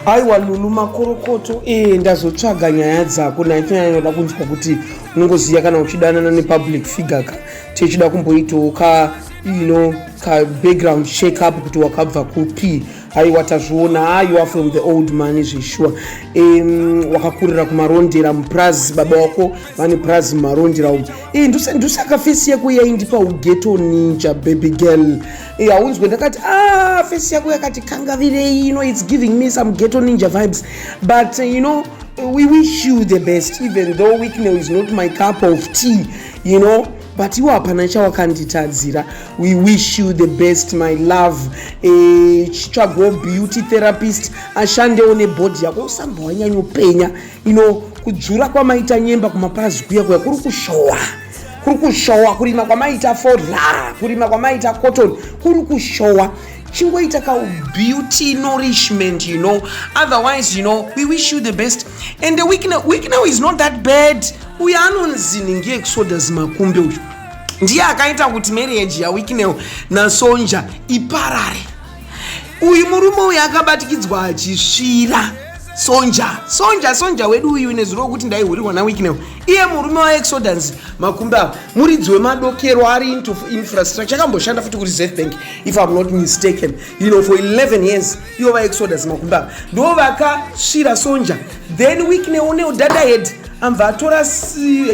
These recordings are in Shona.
aiwa lulu makorokoto ee ndazotsvaga nyaya dzako naitonyanya noda kunzwa kuti unongoziva kana uchidanana nepublic figure ka tichida kumboitawo ka ino ka background check up kuti wakabva kupi aiwa tazviona a you are from the old money zveshuwa um, wakakurira kumarondera mupurazi baba wako vane purazi mumarondera umu e, ndusakafesi yako yaindipa ugeto ninja baby girl Eh, haunzwe ndakati ah face yako yakati kangavirei you know it's giving me some ghetto ninja vibes but uh, you know we wish you the best even though wicknell is not my cup of tea you know but iwo hapana chawakanditadzira we wish you the best my love eh, chitsvagwo beauty therapist ashandewo nebhodhi yako usambowanyanyopenya you know kudzvura kwamaita nyemba kumapazi kuya kuya kuri kushowa kuri kushowa kurima kwamaita fodla kurima kwamaita cotton kuri kushowa chingoita ka beauty nourishment you know otherwise you know we wish you the best and the week now, week now is not that bad uyo anonzi ningi exodus makumbe uyu ndiye akaita kuti marriage yawiknel nasonja iparare uyu murume uyu akabatikidzwa achisvira sonja sonja sonja wedu uyu ine zuro kuti ndaihurirwa nawiknew iye murume waexodance makumbi avo muridzi wemadokero ari into infrastructure akamboshanda futi kuri zef bank if im not mistaken you know for 11 years ivo vaexodance makumbi avo ndo vakasvira sonja then wiknew neudadahead ambva atora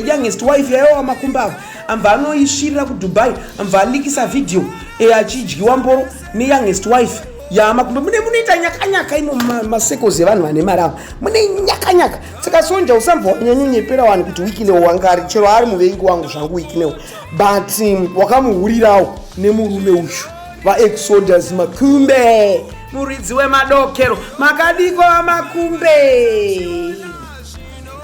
youngest wife yayowa makumbi avo amva anoisvirira kudubai amva alikisa vhidhiyo e, achidyiwa mboro neyoungest wife yamakumbe mune munoita nyakanyaka imo masekozi evanhu vane mari avo mune nyakanyaka saka sonja usambva wanyanyonyepera wani kuti wikinewo wangari chero ari muvengi wangu zvangu wikinewo but um, wakamuhurirawo nemurume uyu vaexoders makumbe muridzi wemadokero makadiko vamakumbe